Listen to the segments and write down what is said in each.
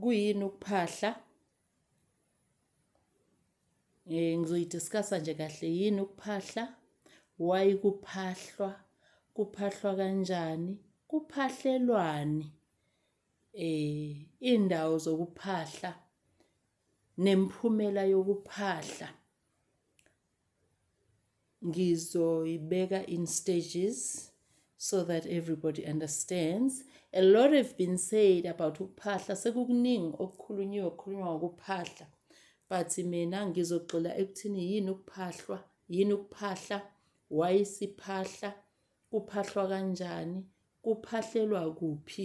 kuyini ukuphahla eh ngizoyidiscussa nje kahle yini ukuphahla why kuphahlwa kuphahlwa kanjani kuphahlelwani eh indawo zokuphahla nemphumela yokuphahla ngizoyibeka in stages so that everybody understands a lot have been said about ukuphahla sekukuningi okukhulunyiwe okukhulunywa ngokuphahla but mina ngizogxila ekuthini yini ukuphahlwa yini ukuphahla why siphahla kuphahlwa kanjani kuphahlelwa kuphi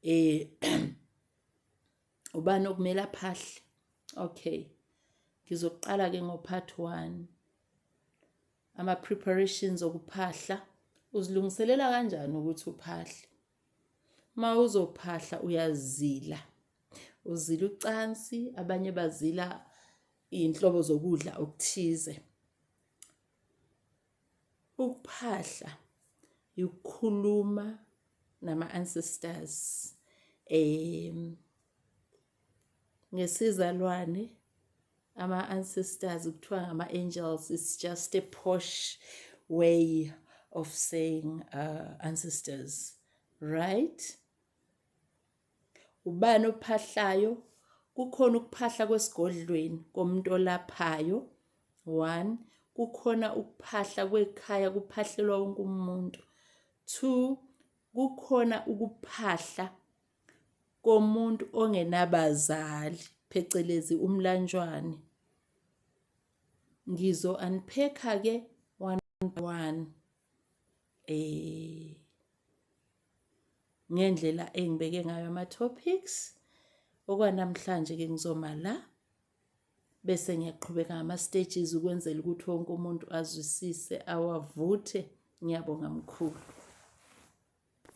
eh ubani okumele aphahle okay ngizoqala ke ngo part 1 ama preparations okuphahla uzilungiselela kanjani ukuthi uphahle ma uzophahla uyazila uzila ucansi abanye bazila inhlobo zokudla okuthize Ukuphahla yikukhuluma nama ancestors em ngesizalwane ama ancestors kuthiwa ngama angels it's just a posh way of saying uh, ancestors right Ubani ophahlayo? Kukhona ukuphahla kwesigodlweni komuntu olaphayo. One, kukhona ukuphahla kwekhaya kuphahlelwa wonke umuntu. Two, kukhona ukuphahla komuntu ongenabazali phecelezi umlanjwane. Ngizo unpack-a ke one by one. Eh ngendlela engibeke ngayo ama-topics okwanamhlanje-ke ngizoma la bese ngiyaqhubeka ngama-stages ukwenzela ukuthi wonke umuntu azwisise awavuthe ngiyabonga mkhulu